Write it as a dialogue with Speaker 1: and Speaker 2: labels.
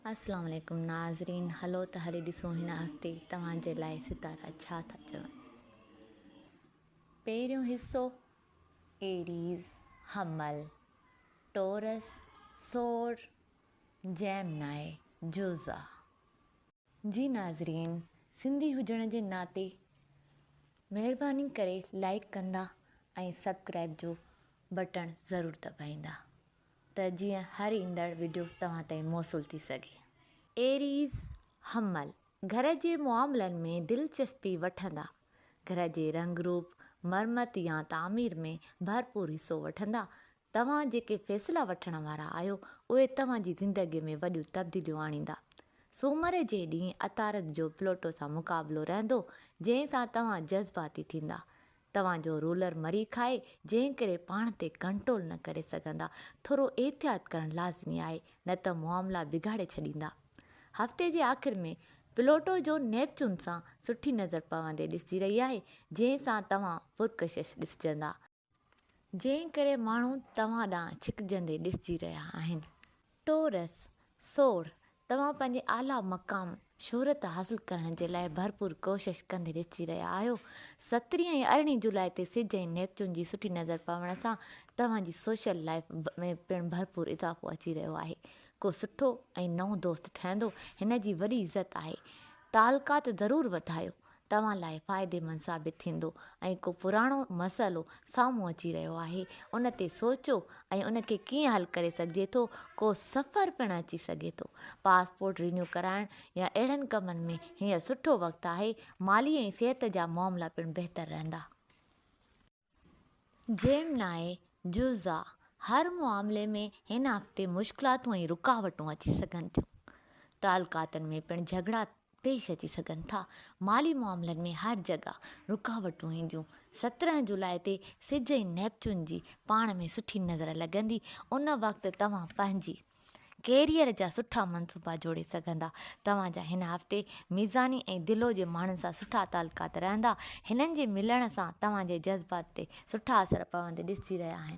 Speaker 1: السلام عليڪم ناظرين هلو ته هلي ڏسون هن هفتي توهان جي لاء ستارا ڇا ٿا چون پهريون حصو ايريز حمل ٽورس ثور جيمنائي جوزا جي ناظرين سنڌي هجڻ جي ناتي مهرباني ڪري لائيڪ ڪندا ۽ سبڪرائيب جو بٽڻ ضرور دٻائيندا ته جيئن هر ايندڙ وڊيو توهان تائين موصول ٿي سگهي. ايريز حمل گهر جي معاملن ۾ دلچسپي وٺندا، گهر جي رنگ روپ، مرمت يا تعمير ۾ ڀرپور حصو وٺندا، توهان جيڪي فيصلا وٺڻ وارا آهيو اهي توهان جي زندگي ۾ وڏيون تبديليون آڻيندا. سومر جي ڏينهن عطارد جو پلوٽو سان مقابلو رهندو جنهن سان توهان جذباتي ٿيندا توهان جو رولر مري کائي جنهن ڪري پاڻ تي ڪنٽرول نه ڪري سگهندا ٿورو احتياط ڪرڻ لازمي آهي نه ته معاملا بگاڙي ڇڏيندا هفتي جي آخر ۾ پلوٽو جو نيپچون سان سٺي نظر پوندي ڏسجي رهي آهي جنهن سان توهان پرڪشش ڏسجندا جنهن ڪري ماڻهو توهان ڏانهن ڇڪجندي ڏسجي رهيا آهن ٽورس، سوڙهه، توهان پنهنجي اعليٰ مقام، شهرت، حاصل ڪرڻ جي لاء ڀرپور ڪوشش ڪندي ڏسجي رهيا آهيو. سترهين ۽ ارڙهين جولاء تي سج ۽ نيپچون جي سٺي نظر پوڻ سان توهان جي سوشل لائيف ۾ پڻ ڀرپور اضافو اچي رهيو آهي. ڪو سٺو ۽ نئون دوست ٺهندو هن جي وڏي عزت آهي. تعلقات ضرور وڌايو توهان لاء فائديمند ثابت ٿيندو ۽ ڪو پراڻو مسئلو سامهون اچي رهيو آهي ان تي سوچو ۽ ان کي ڪيئن حل ڪري سگهجي ٿو ڪو سفر پڻ اچي سگهي ٿو پاسپورٽ رينيو ڪرائڻ يا اهڙن ڪمن ۾ هينئر سٺو وقت آهي مالي ۽ صحت جا معاملا پڻ بهتر رهندا. جيمناء جوزا، هر معاملي ۾ هن هفتي مشڪلاتون ۽ رڪاوٽون اچي سگهن ٿيون. تعلقاتن ۾ پڻ جهڳڙا پيش اچي سگهن ٿا. مالي معاملن ۾ هر جڳهه رڪاوٽون اينديون. سترهن جولاء تي سج ۽ نيپچون جي پاڻ ۾ سٺي نظر لڳندي، ان وقت توهان پنهنجي. ڪيريئر جا سٺا منصوبا جوڙي سگهندا، توهان جا هن هفتي ميزاني ۽ دلو جي ماڻهن سان سٺا تعلقات رهندا، هنن جي ملڻ سان توهان جي جذبات تي سٺا اثر پوندي ڏسجي رهيا آهن.